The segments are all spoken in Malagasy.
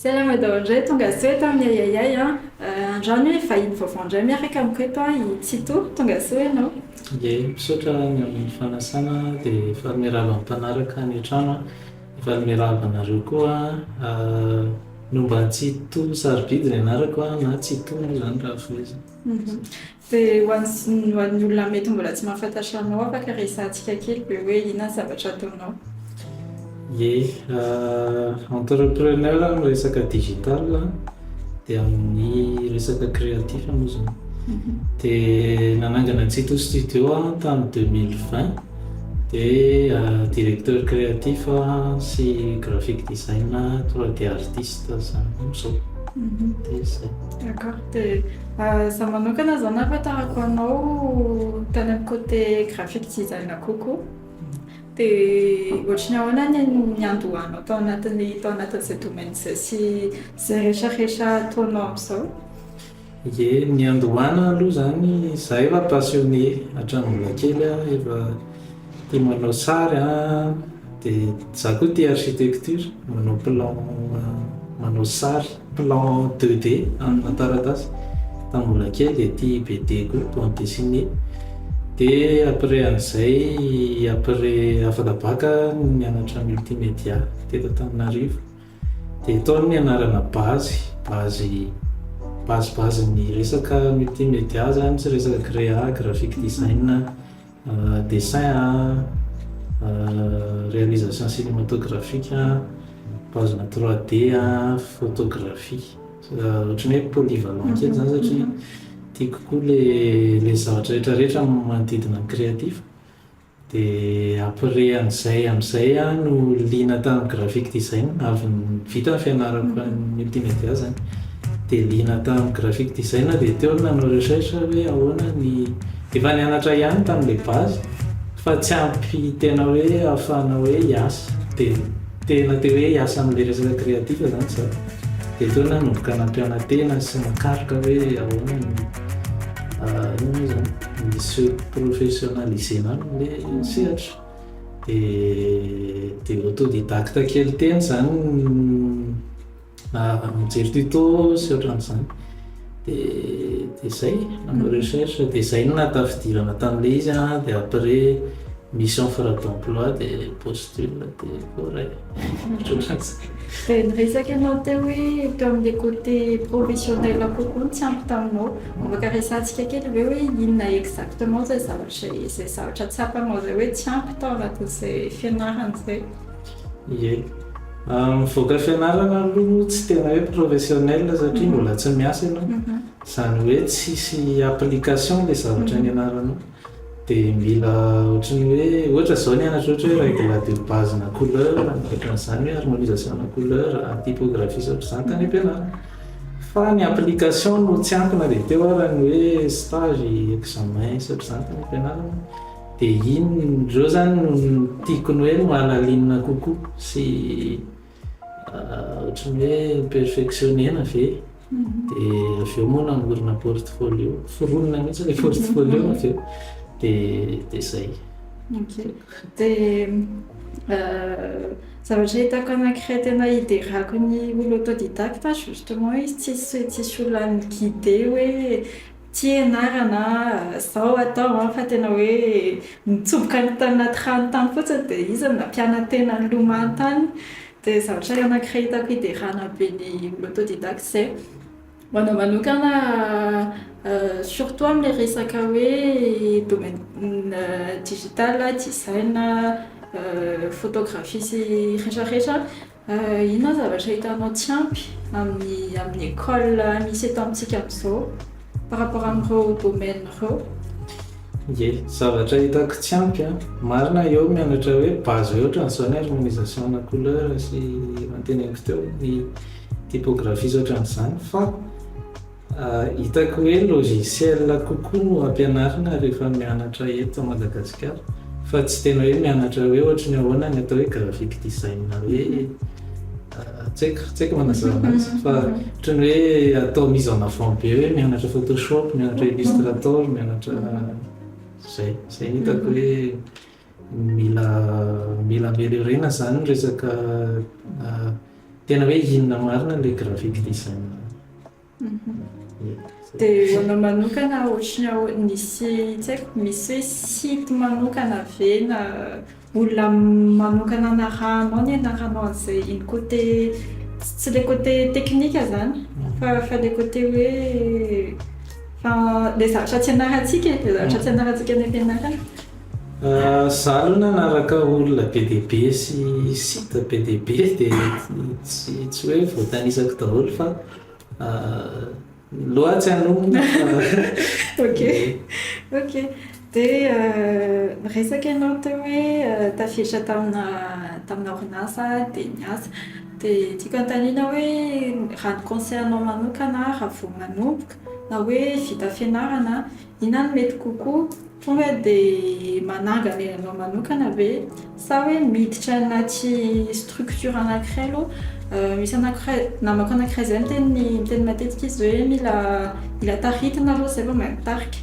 Zay la madao indray tonga soa eto amin'ny Ahiahiahy an! Andrano hoe vahiny vaovao indray miaraka amiko eto an! I Tsito, tonga soa ianao. Ie, misaotra ny amin'ny fanasana dia efa miarahaba ny mpanaraka any an-trano an! Efa miarahaba anareo koa an! Nomba Tsito Sarobidy ny anarako an! na Tsito moa izany raha fohy izy. Dia ho an'ny olona mety mbola tsy mahafantatra anao, afaka resahantsika kely ve hoe inona ny zavatra ataonao? Ie, entrepreneur amin'ny resaka digital an, dia amin'ny resaka créatif moa izany. Dia nanangana Tsito Studio aho tamin'ny deux mille vingt, dia directeur créatif sy graphic design trois D artiste izany amin'izao. Dia izay. D'accord. Za manokana zany afa tahako anao tany am cote graphic design kokoa de ohatry ny ahoana ny niandohanao tao anatin'ny tao anatin'izay domaine izay sy izay rehetra rehetra ataonao amizao? Ye, niandohana aloha zany za efa passionné hatramin'ny mbola kely aho efa Tia manao sary an, dia za koa tia architecture, manao plan manao sary, plan deux D amina taratasy, tamin'ny mbola kely dia tia BD koa, bande dessinée, dia après an'izay après afaka bac no nianatra multimédia teto Antananarivo, dia tao no nianarana base, base base base ny resaka multimédia zany, resaka créa, graphic design. Dessin a, réalisation cinématographique a, paozina trois D a, photographie. Ohatran'ny hoe polyvalent kely zany satria tiako koa le zavatra rehetra rehetra manodidina ny créatif. Dia après an'izay amin'izay aho no liana tamin'ny graphic design, avy vita ny fianarako any multimédia zany dia liana tamin'ny graphic design aho dia teo aho nanao recherche hoe ahoana ny Efa nianatra ihany tamin'ilay base fa tsy ampy tena hoe ahafahana hoe hiasa dia tena te hoe hiasa amin'ilay resaka créatif zany za dia teo aho nanomboka nampiana-tena sy nakaroka hoe ahoana no inona moa zany ny se professionnaliser-na an'ilay sehatra dia dia autodidacte kely teny zany ny Raha mijery tuto sy ohatran'izany dia zay, manao recherche dia zay no nahatafidirana tamle izy an, dia après misy offre d'emploi dia postule dia voaray, ohatran'izay. Dia niresaka ianao teo hoe teo amle côté professionnel kokoa no tsy ampy taminao, afaka resahantsika kely ve hoe inona exactement zay zavatra tsapanao zay hoe tsy ampy tao anatin'izay fianarana izay? Ie. Mivoaka fianarana aloha moa tsy tena hoe professionnel satria mbola tsy miasa ianao. Izany hoe tsisy application ilay zavatra nianaranao. Dia mila ohatran'ny hoe, ohatra izao nianatra ohatra hoe règle de base na couleur na ohatran'izany hoe harmonisation na couleur, typographie sy ohatr'izany tany am-pianarana. Fa ny application no tsy ampy na dia teo ary ny hoe stage, examen sy ohatr'izany tany am-pianarana. Dia iny indreo zany no tiako ny hoe mahalalinina kokoa sy ohatran'ny hoe perfectionner-na ve? Dia avy eo moa namorona portfolio, foronina mihitsy ilay portfolio avy eo, dia dia izay. Ok. Dia zavatra hitako anankiray tena hiderako ny olo autodidacte justement izy tsisy tsisy olona any guider hoe. Fianarana izao atao an, fa tena hoe nitsoboka any tany anaty rano tany fotsiny dia iza no nampiana-tena nilomano tany? Dia zavatra anakiray hitako hiderana be ny autodidacte izay. Ho anao manokana surtout amin'ilay resaka hoe domaine digital, design, photographie sy rehetra rehetra. Inona ny zavatra hitanao tsy ampy amin'ny amin'ny école misy eto amintsika amin'izao par rapport amin'ireo domaines ireo? Ye, zavatra hitako tsy ampy an! marina eo mianatra hoe base hoe ohatran'ny izao ny harmonisation na couleur sy efa noteneniko teo ny typographie sy ohatran'izany fa Hitako hoe logiciel kokoa no ampianarina rehefa mianatra eto Madagasikara fa tsy tena hoe mianatra hoe ohatry ny ahoana ny atao hoe graphic design hoe tsy haiko tsy haiko manazava an'azy fa ohatry ny hoe atao mise en avant be hoe mianatra photoshop, mianatra illustrator, mianatra izay, izay no hitako hoe Mila mila ameliorena zany ny resaka tena hoe inona marina ilay graphic design. Dia ho anao manokana ohatran'ny hoe misy tsy haiko misy hoe site manokana ve na olona manokana narahanao nianaranao an'izay iny côté tsy ilay côté teknika zany fa fa ilay côté hoe fa ilay zavatra tsy ianarantsika e, ilay zavatra tsy ianarantsika any am-pianarana. Za aloha nanaraka olona be dia be sy site be dia be dia tsy tsy hoe voatanisako daholo fa loha tsy hanonona fa ok ok dia niresaka ianao teo hoe tafiditra tamina tamina orinasa dia niasa dia tiako hanontaniana hoe raha ny conseil anao manokana raha vao manomboka na hoe vita fianarana inona no mety kokoa Tonga dia manangana ianao manokana ve? Sa hoe miditra anaty structure anankiray aloha? Misy anankiray, namako anankiray izay miteny miteny matetika izy hoe mila mila taritina aloha izay vao mahay mitarika.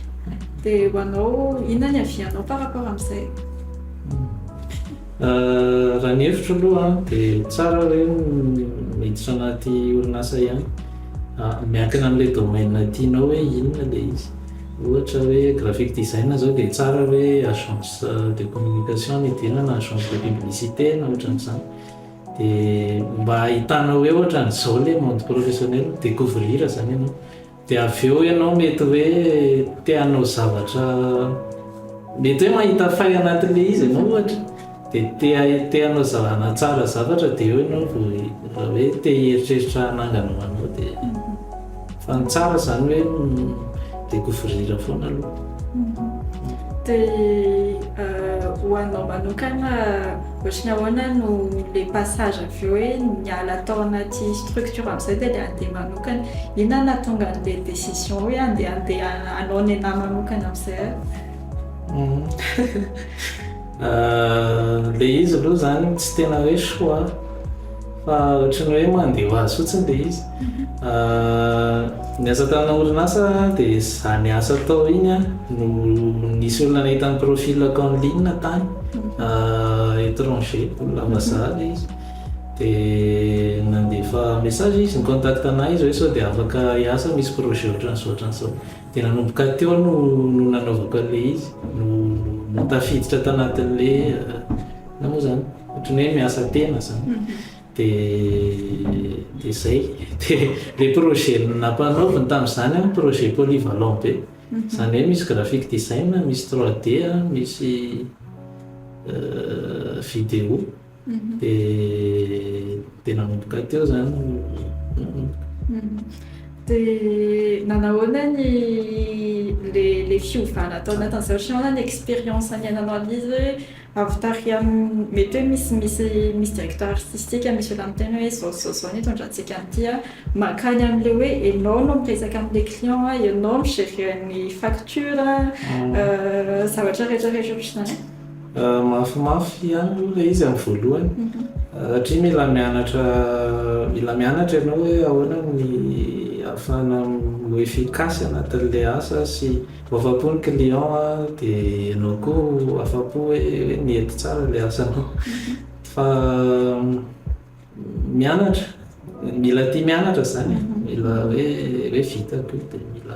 Dia ho anao, inona ny avis-nao par rapport amin'izay? Raha ny hevitro aloha an, dia tsara hoe miditra anaty orinasa ihany. Miankina amin'ilay domaine tianao hoe inona ilay izy. Ohatra hoe graphic design zao dia tsara hoe agence de communication no hidirana na agence de publicité na ohatran'ny izany dia mba ahitanao hoe ohatran'ny izao ilay monde professionnel mi-decouvrir izany ianao dia avy eo ianao mety hoe te hanao zavatra mety hoe mahita fay anatin'ilay izy ianao ohatra Dia te hanao zalana tsara zavatra dia eo ianao vao raha hoe te hieritreritra hanangana ho anao dia fa ny tsara izany hoe mi-decouvrir foana aloha. Dia ho anao manokana ohatran'ny ahoana no le passage avy eo hoe niala tao anaty structure amin'izay dia le handeha manokana. Inona nahatonga an'le décision hoe handeha handeha hanao nenà manokana amin'izay ary? Ahh le izy aloha zany tsy tena hoe choix fa ohatran'ny hoe mandeha ho azy fotsiny le izy ahh niasa tamina orinasa aho de zany asa atao iny an no nisy olona nahita ny profilako en ligne tany ahh etranger olona vazaha le izy de nandefa message izy ni-contacte anah izy hoe sao de afaka hiasa misy projet ohatran'izao ohatran'izao Dia nanomboka teo no no nanaovako an'ilay izy, no no tafiditra tanatin'ilay inona moa izany, ohatran'ny hoe miasa tena izany. Dia dia izay. Dia ilay projet nampanaoviny tamin'izany an, projet polyvalent be. Izany hoe misy graphic design, misy trois D, misy vidéo. Dia dia nanomboka teo izany ny. Dia nanahoana ny ilay fiovana tao anatin'izao sy ahoana ny expérience niainanao an'izy hoe avy tary amin'ny mety hoe misy misy misy directeur artistique misy olona miteny hoe izao sy izao sy izao no hitondrantsika an'ity an, mankany amin'ilay hoe ianao no miresaka amin'ilay client an, ianao mi-gérer ny facture an, zavatra rehetra rehetra ohatr'izany. Mafimafy ihany aloha ilay izy amin'ny voalohany satria mila mianatra mila mianatra ianao hoe ahoana ny ahafahana ho efficace anatin'ilay asa sy ho afa-po ny client dia ianao koa ho afa-po hoe nety tsara ilay asanao. Fa mianatra, mila tia mianatra izany e, mila hoe hoe vitako io dia mila.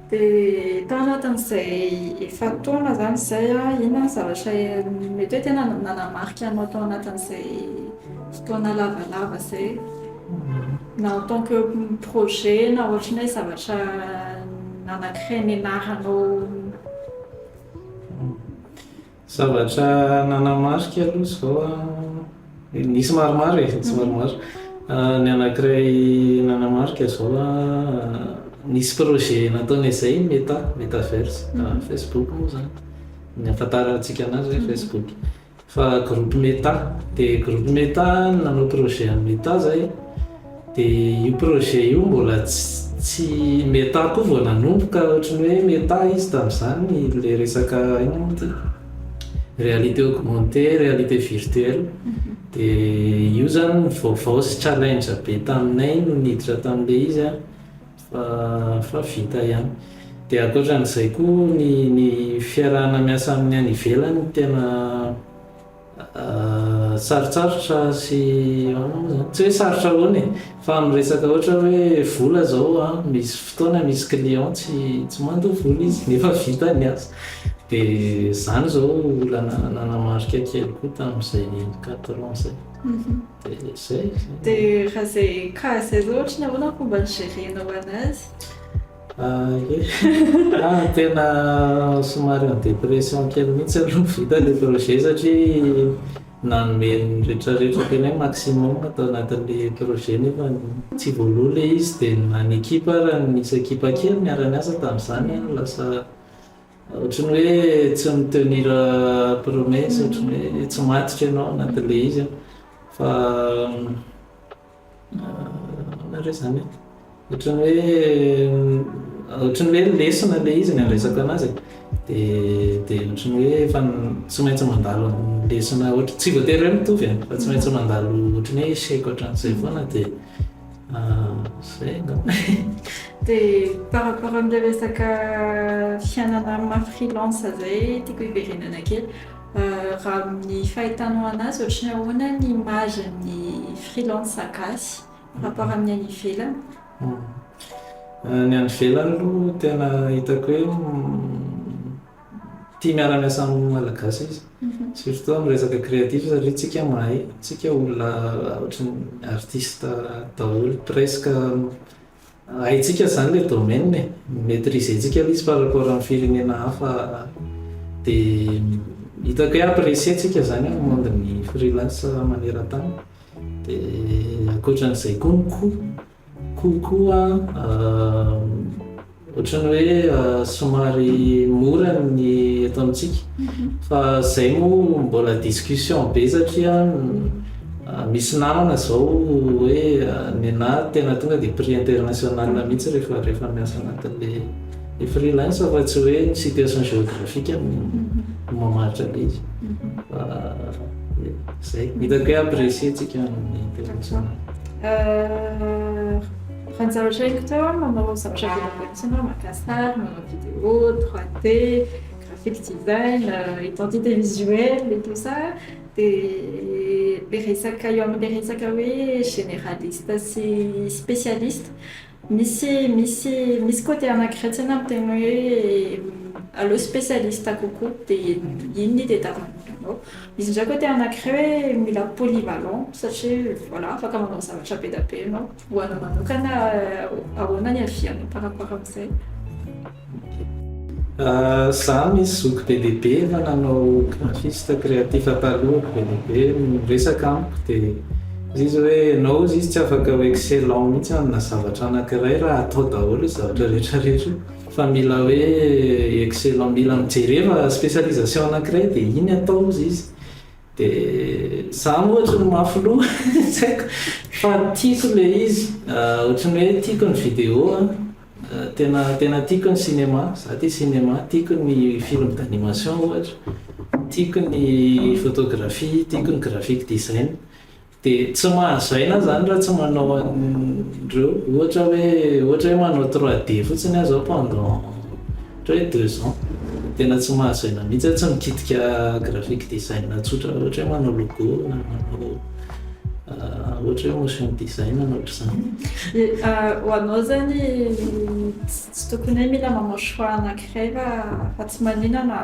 Dia tao anatin'izay efa-taona izany izay, inona ny zavatra mety hoe tena nanamarika anao tao anatin'izay fotoana lavalava izay? Na en tant que projet na ohatry ny hoe zavatra nanankiray nianaranao. Zavatra nanamarika aloha izao an, nisy maromaro e, nisy maromaro. Ny anankiray nanamarika izao an, nisy projet nataon'i Ezay i Meta, Metaverse, Facebook moa izany, ny ahafantarantsika anazy hoe Facebook. Fa groupe Meta, dia groupe Meta no nanao projet an'i Meta izay. Dia io projet io mbola tsy meta koa vao nanomboka, ohatry ny hoe meta izy tamin'izany, ilay resaka inona moa ity? réalité augmentée, réalité virtuelle, dia io izany no vaovao sy challenge be taminay no niditra tamin'ilay izy an, fa fa vita ihany. Dia ankoatra an'izay koa ny ny fiarahana miasa amin'ny any ivelany no tena. Sarotsarotra sy tsy hoe sarotra ahoana e, fa miresaka ohatra hoe vola zao misy fotoana misy client tsy tsy mandoa vola izy nefa vita ny asa de zany zao olana nanamarika kely koa tamzay quatre ans zay de zay. De raha zay cas zay zao ohatry ny ahoana fomba ni-gerenao anazy? Ah ok, tena somary en dépression kely mihitsy aloha ny vita ilay projet satria nanome ny retraretra tena hoe maximum tao anatin'ilay projet nefa tsy voaloha ilay izy dia na ny ekipa ary nisy ekipa kely niara-niasa tamin'izany an, lasa ohatran'ny hoe tsy mi-tenir promesse, ohatran'ny hoe tsy matotra ianao anatin'ilay izy an, fa. Ahoana re izany e? Ohatran'ny hoe ohatran'ny hoe lesona ilay izy ny handresaka anazy e. Dia dia ohatran'ny hoe efa tsy maintsy mandalo amin'ny lesona ohatra, tsy voatery hoe mitovy e, fa tsy maintsy mandalo ohatran'ny hoe échec ohatran'izay foana dia izay angamba e. Dia par rapport amin'ilay resaka fiainana maha freelance izay tiako hiverenana kely. Raha amin'ny fahitanao anazy ohatry ny ahoana ny image ny freelance gasy par rapport amin'ny any ivelany? Ny any ivelany aloha tena hitako hoe tia miara miasa amin'ny malagasy izy surtout amin'ny resaka creatif satria tsika mahay tsika olona ohatry ny artiste daholo presque Haintsika izany ilay domaine e, mi-maitriser-tsika ilay izy par rapport amin'ny firenena hafa dia hitako hoe apprécier-tsika izany amin'ny monde-n'ny freelance maneran-tany. Dia ankoatra an'izay koa ny coût, coût koa an. Ohatran'ny hoe somary mora ny eto amintsika fa zay moa mbola discussion be satria misy namana zao hoe nenahy tena tonga dia prix international mihitsy rehefa rehefa miasa anatin'le le freelance fa tsy hoe ny situation géographique no mamaritra be izy fa zay hitako hoe apprécier tsika ny international. Raha ny zavatra henoko teo a, manao zavatra vita avy amin'ny saina, maka sary, manao vidéo, 3D, graphic design, identité visuelle et tout ça, dia le resaka eo amin'ny le resaka hoe généraliste sy spécialiste, misy misy misy côté anankiray tena miteny hoe aleo spécialiste kokoa dia iny no itadiavana ny olona ao. Misy indray côté anankiray hoe mila polyvalent satria voilà afaka manao zavatra be dia be ianao. Ho anao manokana, ahoana ny havianao par rapport amin'izay? Za misy zoky be dia be efa nanao graphiste créatif taloha, be dia be no niresaka amiko dia hoy izy hoe ianao hozy izy tsy afaka ho excellent mihitsy amina zavatra anankiray raha atao daholo io zavatra rehetrarehetra io fa mila hoe excellent, mila mijereva spécialisation anankiray dia iny atao hozy izy. Dia izaho moa ohatry ny mafy loha, tsy haiko fa tiako ilay izy, ohatry ny hoe tiako ny vidéo an, tena tena tiako ny cinéma, izaho tia cinéma, tiako ny film d'animation ohatra, tiako ny photographie, tiako ny graphic design, Dia tsy mahazaina izany raha tsy manao an'ireo, ohatra hoe, ohatra hoe manao trois D fotsiny aho izao pendant ohatra hoe deux ans, tena tsy mahazaina mihitsy aho, tsy mikitika graphic design tsotra ohatra hoe manao logo na manao ohatra hoe motion design na ohatr'izany. Ho anao izany tsy tokony hoe mila manao choix anankiray va fa tsy maninona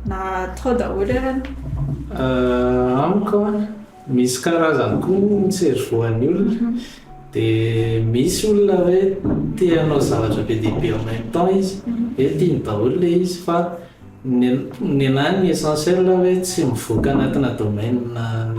na atao daholo ary? Amiko an. Misy karazany koa moa ny cerveau-an'ny olona dia misy olona hoe te hanao zavatra be dia be en même temps izy hoe tiany daholo ilay izy fa ny nenahy ny essentiel hoe tsy mivoaka anatina domaine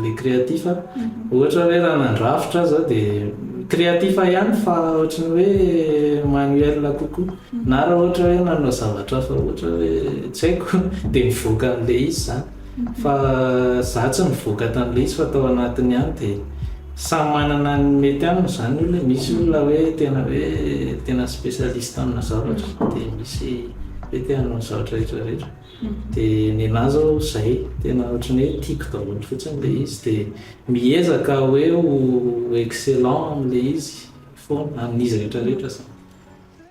le créatif ohatra hoe raha nandrafitra aza dia créatif ihany fa ohatran'ny hoe manuel kokoa na raha ohatra hoe nanao zavatra hafa ohatra hoe tsy haiko dia mivoaka an'ilay izy izany. Fa za tsy nivoaka tan'le izy fa tao anatiny ihany de samy manana ny mety aminy zany olona e, misy olona hoe tena hoe tena spécialiste amina zavatra de misy hoe te hanao ny zavatra rehetra rehetra de nenah zao zay tena ohatrany hoe tiako daholo fotsiny le izy de miezaka hoe ho excellent amle izy foana amin'izy rehetra rehetra zany.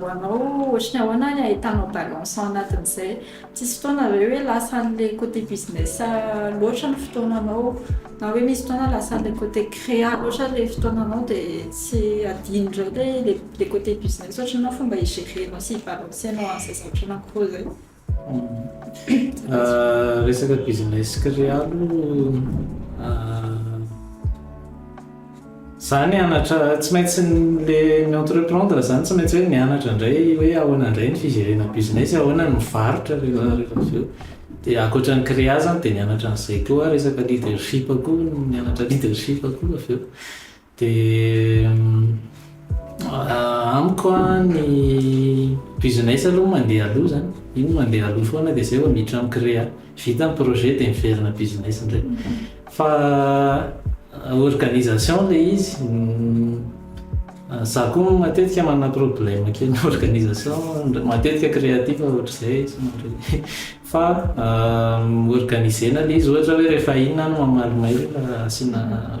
Ho anao ohatry ny ahoana ny ahitanao balance ao anatin'izay? Tsisy fotoana ve hoe lasa an'ilay côté business loatra ny fotoananao? Na hoe misy fotoana lasa an'ilay côté créa loatra ilay fotoananao dia tsy adino indray ilay ilay côté business ohatry ny hoe fomba hi-gérer-nao sy hi-balancer-nao an'izay zavatra anankiroa izay? Resaka business céréal zany anatra tsy maintsy le mi entreprendre zany tsy maintsy hoe mianatra indray hoe ahoana indray ny fijerena business ahoana ny mivarotra rehefa rehefa avy eo de ankoatra ny créa zany de mianatra an'izay koa resaka leadership koa mianatra leadership koa avy eo Dia amiko ny business aloha mandeha aloha izany, iny mandeha aloha foana dia izay vao miditra mi-créer. Vita ny projet dia miverina business indray. Fa organisation ilay izy, izaho koa matetika manana problème kely amin'ny organisation, matetika créatif ohatr'izay izy mandray. Fa organiser-na ilay izy ohatra hoe rehefa inona no mamaly mail asiana.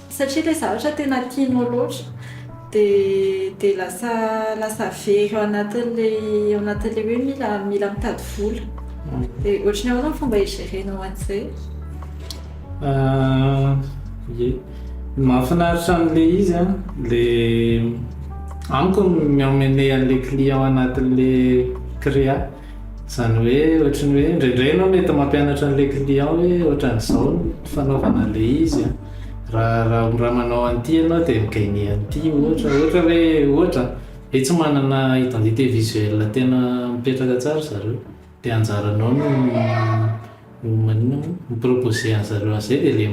Satria ilay zavatra tena tianao loatra dia dia lasa lasa very ao anatin'ilay ao anatin'ilay hoe mila mila mitady vola. Dia ohatry ny ahoana ny fomba hi-gérer-nao an'izay? Ie, ny mahafinaritra an'ilay izy an, ilay amiko ny mi-emmener an'ilay client ao anatin'ilay créa. Izany hoe ohatry ny hoe indraindray ianao mety mampianatra an'ilay client hoe ohatran'izao ny fanaovana an'ilay izy an, raha raha raha manao an'ity ianao dia mi-gagner an'ity ohatra, ohatra hoe ohatra an, hoe tsy manana identité visuelle tena mipetraka tsara zareo dia anjaranao no no manina moa, mi-proposer an'zareo an'izay dia le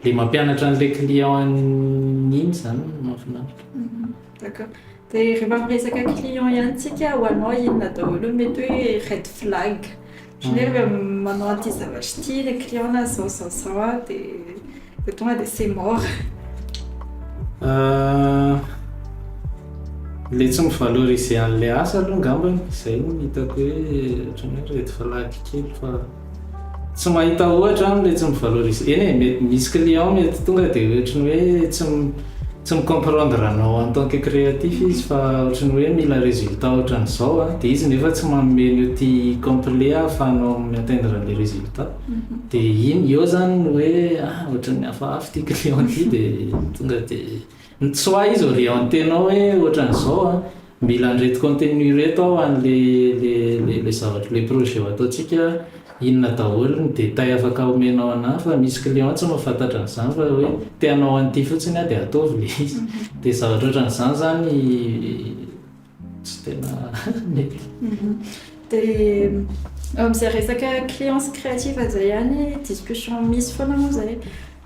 le mampianatra an'ilay client an'iny izany no mahafinaritra. D'accord. Dia rehefa miresaka client ihany tsika ho anao inona daholo no mety hoe red flag? Ohatran'ny hoe rehefa manao an'ity zavatra ity ilay client na zao zao zao an dia vao tonga dia c'est mort. Ilay tsy mi-valoriser an'ilay asa aloha angambany, izay no hitako hoe ohatran'ny hoe red flag kely fa. Tsy mahita ohatra aminy le tsy mivaloriser eny e mety misy client mety tonga de ohatry ny hoe tsy tsy mi comprendre anao en tant que créatif izy fa ohatry ny hoe mila résultat ohatry ny zao a de izy nefa tsy manome ny outil complet ahafahanao mi atteindre le résultat de iny eo zany no hoe ah ohatry ny hafahafa ty client ty de tonga de soit izy orienter anao hoe ohatry ny zao a. Mila andreto contenu ireto ao any le le le le zavatra le projet ataontsika inona daholo ny détail afaka omenao anah fa misy client tsy mahafantatra an'izany fa hoe te hanao an'ity fotsiny aho de ataovy le izy de zavatra ohatran'izany zany tsy tena mety de am'zay resaka clients créative zay ihany discussion misy foana moa zay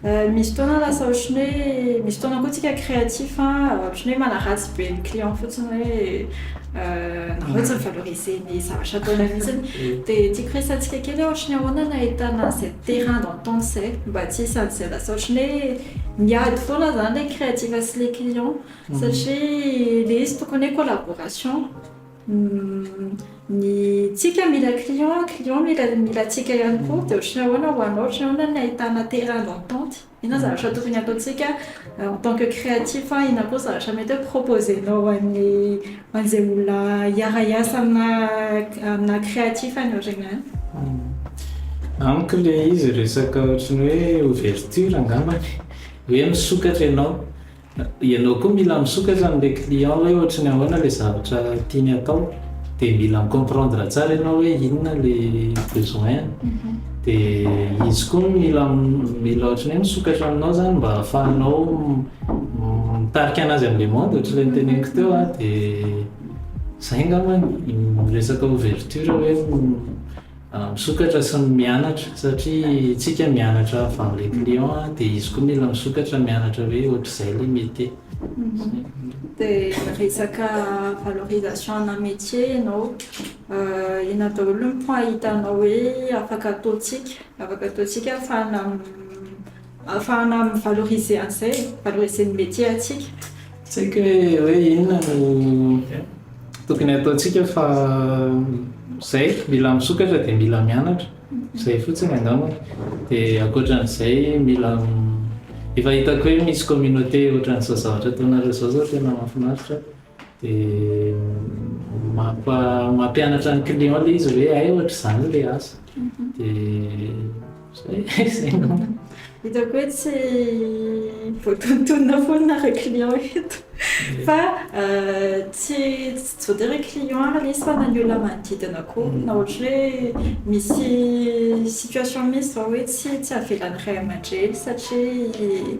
Misy fotoana lasa ohatran'ny hoe misy fotoana koa tsika créatif a ohatran'ny hoe manaratsy be ny client fotsiny hoe nareo tsy mi-valoriser ny zavatra ataonay mihitsy de tiako resahantsika kely hoe ohatran'ny ahoana no ahitana an'izay terrain d'entente zay mba tsy hisy an'izay lasa ohatran'ny hoe miady foana zany le créatif sy le client satria le izy tokony hoe collaboration. Ny tsika mila client, client mila mila tsika ihany koa dia ohatry ny ahoana ho anao ohatry ny ahoana ny ahitana terrain d'entente, inona zavatra tokony ataontsika en tant que créatif, inona koa zavatra mety hoe proposer-nao ho an'ny ho an'izay olona hiara-hiasa aminà aminà créatif anao regny ihany. Amiko ilay izy resaka ohatry ny hoe ouverture angambany, hoe misokatra ianao. Ianao koa mila misokatra amin'ilay client hoe ohatry ny ahoana ilay zavatra tiany atao, dia mila mi-comprendre tsara ianao hoe inona ilay besoin-ny, dia izy koa mila mila ohatry ny hoe misokatra aminao izany mba ahafahanao mitarika an'azy amin'ilay monde ohatr'ilay noteneniko teo an, dia izay angambany ny resaka ouverture hoe. Misokatra sy mianatra satria tsika mianatra avant le client a de izy koa mila misokatra mianatra hoe ohatrizay le metier. De resaka valorisation ana metier ianao inona daholo ny point hitanao hoe afaka ataontsika afaka ataontsika afahana Ahafahana mi valoriser an'izay, valoriser ny métier antsika. Tsy haiko hoe inona no tokony ataontsika fa izay, mila misokatra dia mila mianatra, izay fotsiny angamba. Dia ankoatran'izay mila, efa hitako hoe misy communauté ohatran'izao zavatra ataonareo izao zao tena mahafinaritra. Dia mampianatra ny client ilay izy hoe hay ohatr'izany ilay asa. Dia izay angamba. Hitako hoe tsy voatontonina foana ireo clients eto. Fa tsy voatery client ary ilay izy fa na ny olona manodidina koa. Na ohatra hoe misy situation mihitsy izao hoe tsy avelany ray aman-dreny satria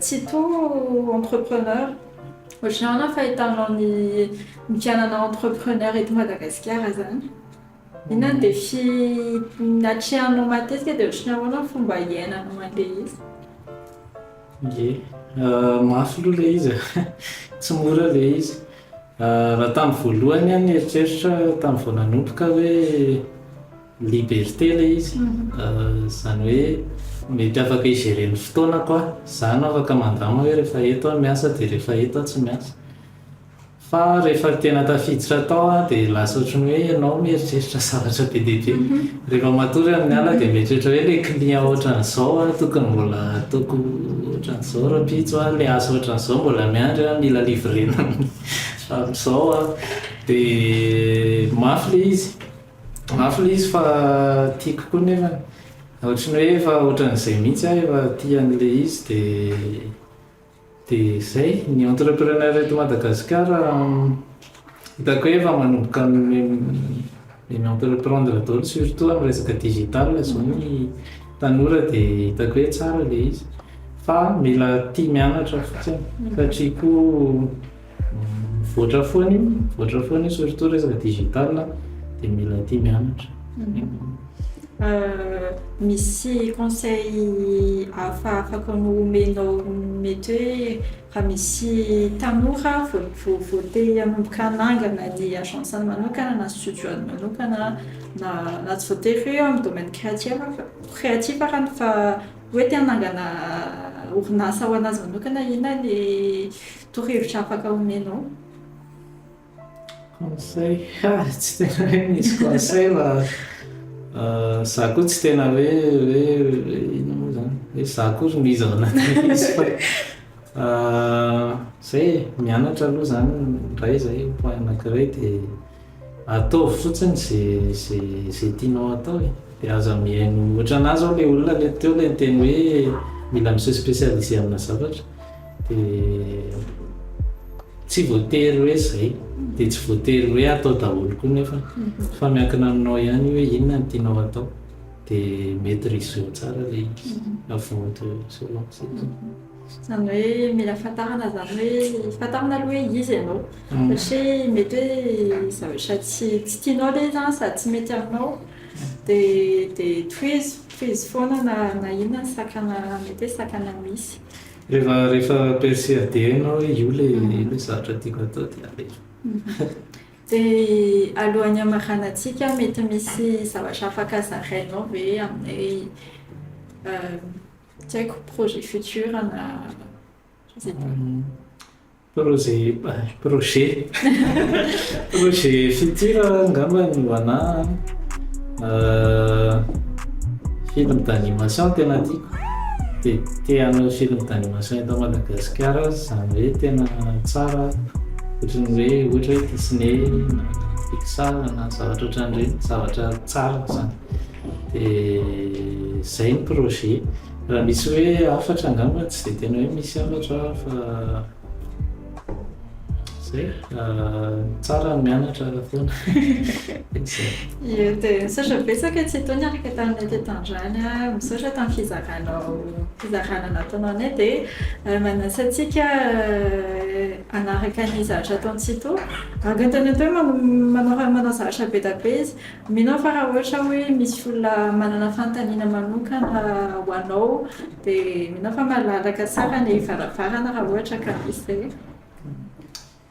Tsito entrepreneur ohatranao na fahitanao ny ny fianana entrepreneur eto Madagasikara zany inona ny défi natrehanao matetika dia ohatran'ny ahoana ny fomba hiainanao an'ilay izy? Ie, mafy aloha ilay izy e, tsy mora ilay izy, raha tamin'ny voalohany aho nieritreritra tamin'ny vao nanomboka hoe. Liberté ilay izy, izany hoe mety afaka hi-gérer ny fotoanako aho, izaho no afaka mandama hoe rehefa eto aho miasa dia rehefa eto aho tsy miasa. Fa rehefa tena tafiditra tao aho dia lasa ohatran'ny hoe ianao mieritreritra zavatra be dia be. Rehefa matory amin'ny alina dia mieritreritra hoe ilay client ohatran'izao aho tokony mbola ataoko ohatran'izao rahampitso aho, ilay asa ohatran'izao mbola miandry aho, mila livrena amin'izao aho. Dia mafy ilay izy. Mafy le izy fa tiako koa nefany ohatry ny hoe efa ohatran'izay mihitsy aho efa tia an'le izy de de zay ny entrepreneur eto Madagasikara hitako hoe efa manomboka mi entreprendre daholo surtout amin'ny resaka digital zao ny tanora de hitako hoe tsara le izy fa mila tia mianatra fotsiny satria koa Mivoatra foana io, mivoatra foana io surtout resaka digital a, dia mila tia mianatra. Misy conseil hafa afaka omenao mety hoe raha misy tanora vao te hanomboka hanangana ny agence-ny manokana na studio-ny manokana na na tsy voatery hoe eo amin'ny domaine créatif fa créatif ary fa hoe te hanangana orinasa ho an'azy manokana inona ny Torohevitra afaka omenao? Conseil? Ah, tsy tena hoe misy conseil fa za koa tsy tena hoe hoe inona moa zany hoe za koa ry miza ao anatin'ilay izy fa zay e, mianatra aloha zany ny iray zay point anakiray dia. Ataovy fotsiny ze ze ze tianao atao e, de aza mihaino ohatra anah zao le olona le teo le niteny hoe mila mi se specialiser amina zavatra de tsy voatery hoe zay de tsy voatery hoe atao daholo koa nefa fa miankina aminao ihany io hoe inona no tianao atao de maitrise-o tsara le izy avant de se lancer. Izany hoe mila fantarina izany hoe fantarina aloha hoe iza ianao. Satria mety hoe zavatra tsy tsy tianao ilay izy an, sady tsy mety aminao, dia dia tohizo. Tohizo foana na na inona ny sakana mety hoe sakana misy. Rehefa rehefa persuadé anao hoe io ilay io ilay zavatra tiako hatao dia alefa. Dia alohan'ny hamaranantsika, mety misy zavatra afaka zarainao ve aminay hoe Tsy haiko projet futur na je sais pas. Projet projet projet futur angamba ny ho anah film d'animation tena tiako dia te hanao film d'animation eto Madagasikara aho izany hoe tena tsara ohatra ny hoe ohatra hoe Disney na Pixar na zavatra ohatran'ireny zavatra tsara izany. Dia zay ny projet. Raha misy hoe hafatra angamba tsy dia tena hoe misy hafatra fa zay ny tsara ny mianatra foana. Ie dia misaotra betsaka e Tsitoha niaraka taminay teto androany a. Misaotra tamin'ny fizaranao fizarana nataonao anay dia manasa antsika hanaraka ny zavatra ataon'i Tsitoha. Antontanina teo hoe manao zavatra be dia be izy. Mino aho fa raha ohatra hoe misy olona manana fanontaniana manokana ho anao dia mino aho fa malalaka tsara ny varavarana raha ohatra ka misy izay.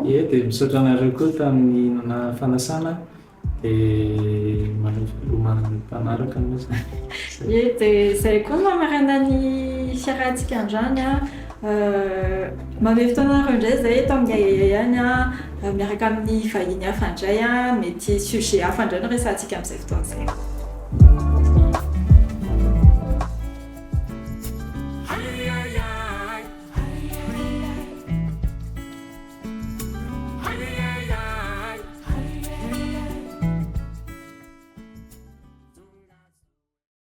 Ie, dia misaotra anareo koa tamin'ny nanà fanasana dia manohy filomana mifanaraka moa izany. Ie, dia izay koa no mamarana ny fiarahantsika androany an! Mamehy fotoana anareo indray izahay eto amin'ny Ahiahy any an, miaraka amin'ny vahiny hafa indray an, mety sujet hafa indray no resahantsika amin'izay fotoana izay.